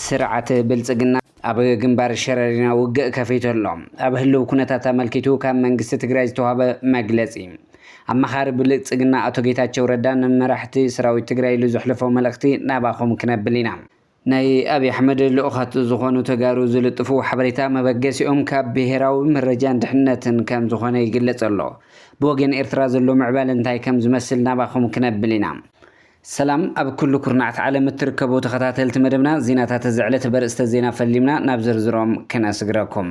ስርዓት ብልፅግና ኣብ ግንባር ሸረሪና ውግእ ከፊቱ ኣሎ። ኣብ ህልው ኩነታት ኣመልኪቱ ካብ መንግስቲ ትግራይ ዝተዋህበ መግለፂ። ኣማኻሪ ብልፅግና ኣቶ ጌታቸው ረዳ ንመራሕቲ ሰራዊት ትግራይ ኢሉ ዘሕለፎ መልእኽቲ ናባኹም ክነብል ኢና። ናይ ኣብይ ኣሕመድ ልኡኻት ዝኾኑ ተጋሩ ዝልጥፍዎ ሓበሬታ መበገሲኦም ካብ ብሄራዊ መረጃን ድሕንነትን ከም ዝኾነ ይግለፅ ኣሎ። ብወገን ኤርትራ ዘሎ ምዕባለ እንታይ ከም ዝመስል ናባኹም ክነብል ኢና። ሰላም ኣብ ኩሉ ኩርናዓት ዓለም እትርከቡ ተኸታተልቲ መደብና ዜናታት እዚ ዕለት በርእስተ ዜና ፈሊምና ናብ ዝርዝሮም ክነስግረኩም።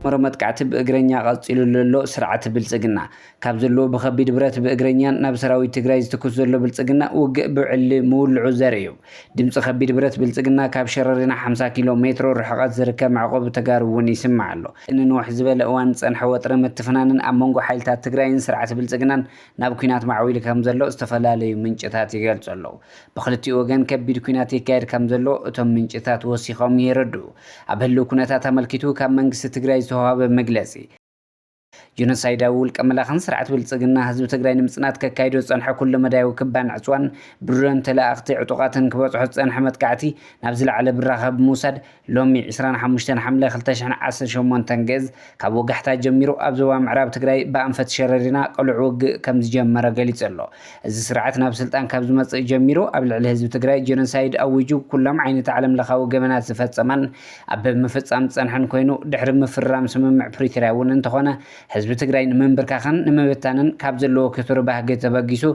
መሮ መጥቃዕቲ ብእግረኛ ቀፂሉ ዘሎ ስርዓት ብልፅግና ካብ ዘለዎ ብከቢድ ብረት ብእግረኛን ናብ ሰራዊት ትግራይ ዝትኩስ ዘሎ ብልፅግና ውግእ ብዕሊ ምውልዑ ዘርኢ እዩ። ድምፂ ከቢድ ብረት ብልፅግና ካብ ሸረሪና 50 ኪሎ ሜትሮ ርሕቐት ዝርከብ መዕቆቢ ተጋሩ እውን ይስማዕ ኣሎ። ንንውሕ ዝበለ እዋን ዝፀንሐ ወጥሪ ምትፍናንን ኣብ መንጎ ሓይልታት ትግራይን ስርዓት ብልፅግናን ናብ ኲናት ማዕዊሉ ከምዘሎ ዝተፈላለዩ ምንጭታት ይገልጹ ኣለዉ። ብኽልቲኡ ወገን ከቢድ ኲናት ይካየድ ከምዘሎ እቶም ምንጭታት ወሲኾም የረድኡ። ኣብ ህልው ኩነታት ኣመልኪቱ ካብ መንግስቲ ትግራይ ዝተውሃበ መግለጺ፣ ጆኖሳይዳዊ ውልቀ መላኽን ስርዓት ብልጽግና ህዝቢ ትግራይ ንምጽናት ከካይዶ ዝጸንሐ ኩለ መዳያዊ ክባን ዕጽዋን ብድሮን ተለኣኣኽቲ ዕጡቓትን ክበጽሖ ዝጸንሐ መጥቃዕቲ ናብ ዝለዓለ ብራኸ ብምውሳድ ሎሚ ዕስራን ሓሙሽተን ሓምለ ክልተ ሽሕን ዓሰርተ ሸሞንተን ግእዝ፣ ካብ ወጋሕታ ጀሚሩ ኣብ ዞባ ምዕራብ ትግራይ ብኣንፈት ሸረሪና ቅሉዕ ውግእ ከምዝጀመረ ገሊፁ ኣሎ። እዚ ስርዓት ናብ ስልጣን ካብ ዝመፅእ ጀሚሩ ኣብ ልዕሊ ህዝቢ ትግራይ ጀኖሳይድ ኣዊጁ ኩሎም ዓይነት ዓለምለኻዊ ገበናት ዝፈፀመን ኣብ ምፍፃም ዝፀንሐን ኮይኑ ድሕሪ ምፍርራም ስምምዕ ፕሪቶርያ እውን እንተኾነ ህዝቢ ትግራይ ንምንብርካኽን ንምብታንን ካብ ዘለዎ ክቱር ባህጊ ተበጊሱ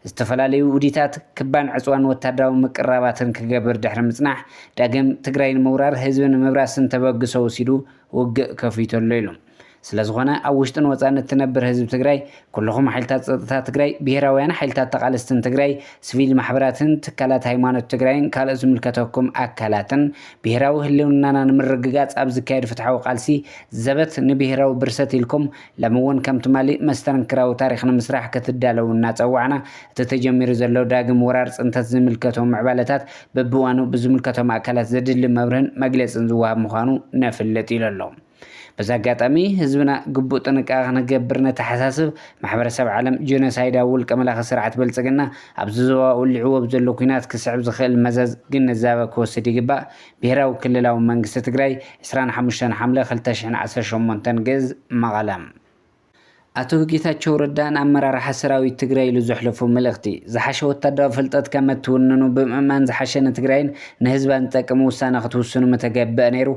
ዝተፈላለዩ ውዲታት ክባን ዕፅዋን ወታደራዊ ምቅርራባትን ክገብር ድሕሪ ምፅናሕ ዳግም ትግራይ ንምውራር ህዝቢ ንምብራስን ተበግሶ ወሲዱ ውግእ ከፊቱ ኣሎ ኢሉ። ስለዝኾነ ኣብ ውሽጥን ወፃእን እትነብር ህዝቢ ትግራይ፣ ኩልኹም ሓይልታት ፀጥታ ትግራይ፣ ብሄራውያን ሓይልታት ተቓለስትን ትግራይ፣ ስቪል ማሕበራትን ትካላት ሃይማኖት ትግራይን ካልኦት ዝምልከተኩም ኣካላትን ብሄራዊ ህልውናና ንምርግጋፅ ኣብ ዝካየድ ፍትሓዊ ቃልሲ ዘበት ንብሄራዊ ብርሰት ኢልኩም ለምውን ከም ትማሊ መስተንክራዊ ታሪኽ ንምስራሕ ክትዳለዉ እናፀዋዕና እቲ ተጀሚሩ ዘሎ ዳግም ወራር ፅንተት ዝምልከቶ ምዕባለታት በብእዋኑ ብዝምልከቶም ኣካላት ዘድሊ መብርህን መግለፅን ዝወሃብ ምዃኑ ነፍልጥ ኢሉ ኣሎ። በዚ ኣጋጣሚ ህዝብና ግቡእ ጥንቃቐ ክንገብር ነተሓሳስብ፣ ማሕበረሰብ ዓለም ጀኖሳይዳዊ ውልቀ መላኺ ስርዓት ብልፅግና ኣብዚ ዞባ ወሊዕዎ ብዘሎ ኲናት ክስዕብ ዝኽእል መዘዝ ግንዛበ ክወስድ ይግባእ ብሄራዊ ክልላዊ መንግስቲ ትግራይ ዕስራን ሓሙሽተን ሓምለ ክልተ ሽሕን ዓሰርተ ሸሞንተን ግእዝ መቐለ። ኣቶ ጌታቸው ረዳ ንኣመራርሓ ሰራዊት ትግራይ ኢሉ ዘሕለፎ መልእኽቲ፣ ዝሓሸ ወታደራዊ ፍልጠት ከም እትውንኑ ብምእማን ዝሓሸ ንትግራይን ንህዝባን ዝጠቅም ውሳነ ክትውስኑ ምተገብአ ነይሩ፣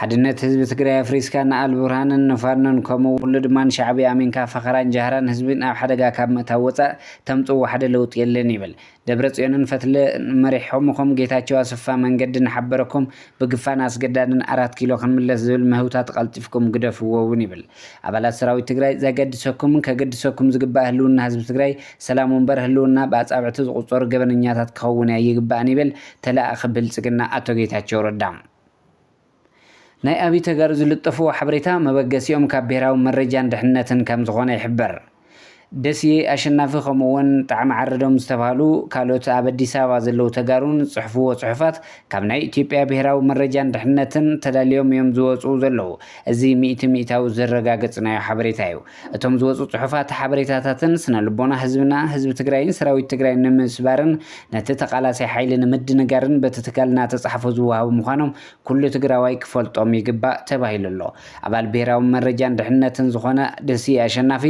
ሓድነት ህዝቢ ትግራይ ኣፍሪስካ ንኣልቡርሃንን ንፋኖን ከምኡ ኡሉ ድማ ንሻዕብያ ኣሚንካ ፈኸራን ጃህራን ህዝቢን ኣብ ሓደጋ ካብ ምእታው ወፃእ ተምፅዎ ሓደ ለውጢ የለን ይብል። ደብረጽዮንን ፈትለ መሪሖምኹም ጌታቸው ኣሰፋ መንገዲ እናሓበረኩም ብግፋን ኣስገዳድን ኣራት ኪሎ ክንምለስ ዝብል ምህውታት ቐልጢፍኩም ግደፍዎ እውን ይብል ኣባላት ሰራዊት ትግራይ ዘገድሰኩምን ከገድሰኩም ዝግባእ ህልውና ህዝቢ ትግራይ ሰላሙ እምበር ህልውና ብኣፃብዕቲ ዝቑፀሩ ገበነኛታት ክኸውን ኣይግባእን ይብል ተለኣኣኺ ብልፅግና ኣቶ ጌታቸው ረዳ። ናይ ኣብይ ተጋሩ ዝልጠፍዎ ሓበሬታ መበገሲኦም ካብ ብሄራዊ መረጃን ድሕንነትን ከምዝኾነ ይሕበር። ደስየ ኣሸናፊ ከምኡ እውን ጣዕመ ዓረዶም ዝተብሃሉ ካልኦት ኣብ ኣዲስ ኣበባ ዘለዉ ተጋሩን ዝፅሕፍዎ ፅሑፋት ካብ ናይ ኢትዮጵያ ብሄራዊ መረጃን ድሕንነትን ተዳሊዮም እዮም ዝወፅኡ ዘለዉ። እዚ ሚእቲ ሚእታዊ ዘረጋገፅናዮ ሓበሬታ እዩ። እቶም ዝወፁ ፅሑፋት ሓበሬታታትን ስነልቦና ህዝብና፣ ህዝቢ ትግራይን ሰራዊት ትግራይን ንምስባርን ነቲ ተቓላሳይ ሓይሊ ንምድንጋርን በቲ ትካል እናተፅሓፉ ዝወሃቡ ምዃኖም ኩሉ ትግራዋይ ክፈልጦም ይግባእ ተባሂሉ ኣሎ። ኣባል ብሄራዊ መረጃን ድሕንነትን ዝኾነ ደስየ ኣሸናፊ፣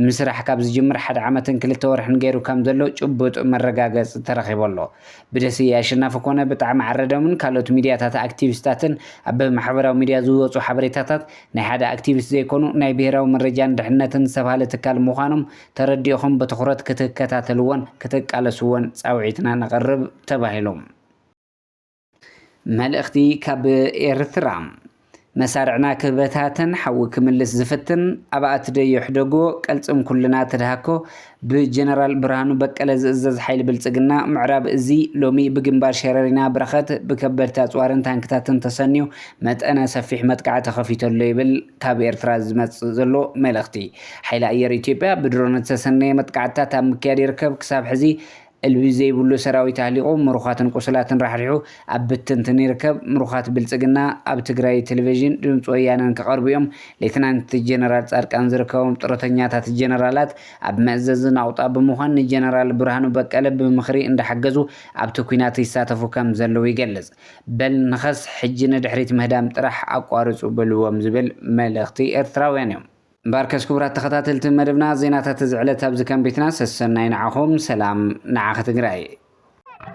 ምስራሕ ካብ ዝጅምር ሓደ ዓመትን ክልተ ወርሕን ገይሩ ከም ዘሎ ጭቡጥ መረጋገፂ ተረኺቡ ኣሎ። ብደስየ ኣሸናፊ ኮነ ብጣዕሚ ዓረዶምን ካልኦት ሚድያታት ኣክቲቪስታትን ኣብ ማሕበራዊ ሚድያ ዝወፁ ሓበሬታታት ናይ ሓደ ኣክቲቪስት ዘይኮኑ ናይ ብሄራዊ መረጃን ድሕንነትን ዝተብሃለ ትካል ምዃኖም ተረዲእኹም ብትኹረት ክትከታተልዎን ክትቃለስዎን ፃውዒትና ነቕርብ ተባሂሉ። መልእኽቲ ካብ ኤርትራ! መሳርዕና ክበታተን ሓዊ ክምልስ ዝፍትን ኣባኣቲ ዶ የሕደጎ ቀልጽም ኩልና ተድሃኮ ብጀነራል ብርሃኑ በቀለ ዝእዘዝ ሓይሊ ብልጽግና ምዕራብ እዚ ሎሚ ብግንባር ሸረሪና ብረኸት ብከበድቲ ኣጽዋርን ታንክታትን ተሰንዩ መጠነ ሰፊሕ መጥቃዕቲ ከፊተሎ ይብል ካብ ኤርትራ ዝመጽእ ዘሎ መልእኽቲ ሓይሊ ኣየር ኢትዮጵያ ብድሮን ዝተሰነየ መጥቃዕትታት ኣብ ምክያድ ይርከብ ክሳብ ሕዚ ዕልቢ ዘይብሉ ሰራዊት ኣህሊቑ ምሩኻትን ቁሱላትን ራሕሪሑ ኣብ ብትንትን ይርከብ። ምሩኻት ብልጽግና ኣብ ትግራይ ቴሌቬዥን ድምጺ ወያነን ክቐርቡ'ዮም። ሌተናንት ጀነራል ጻድቃን ዝርከቦም ጥሮተኛታት ጀነራላት ኣብ መእዘዚ ናቑጣ ብምዃን ንጀነራል ብርሃኑ በቀለ ብምኽሪ እንዳሓገዙ ኣብቲ ኲናት ይሳተፉ ከም ዘለዉ ይገልጽ። በል ንኸስ ሕጂ ንድሕሪት ምህዳም ጥራሕ ኣቋርጹ በልዎም ዝብል መልእኽቲ ኤርትራውያን'ዮም። እምበኣርከስ ክቡራት ተኸታተልቲ መደብና ዜናታት እዚ ዕለት ኣብዚ ከም ቤትና ሰሰናዩ ንዓኹም ሰላም ንዓኺ ትግራይ።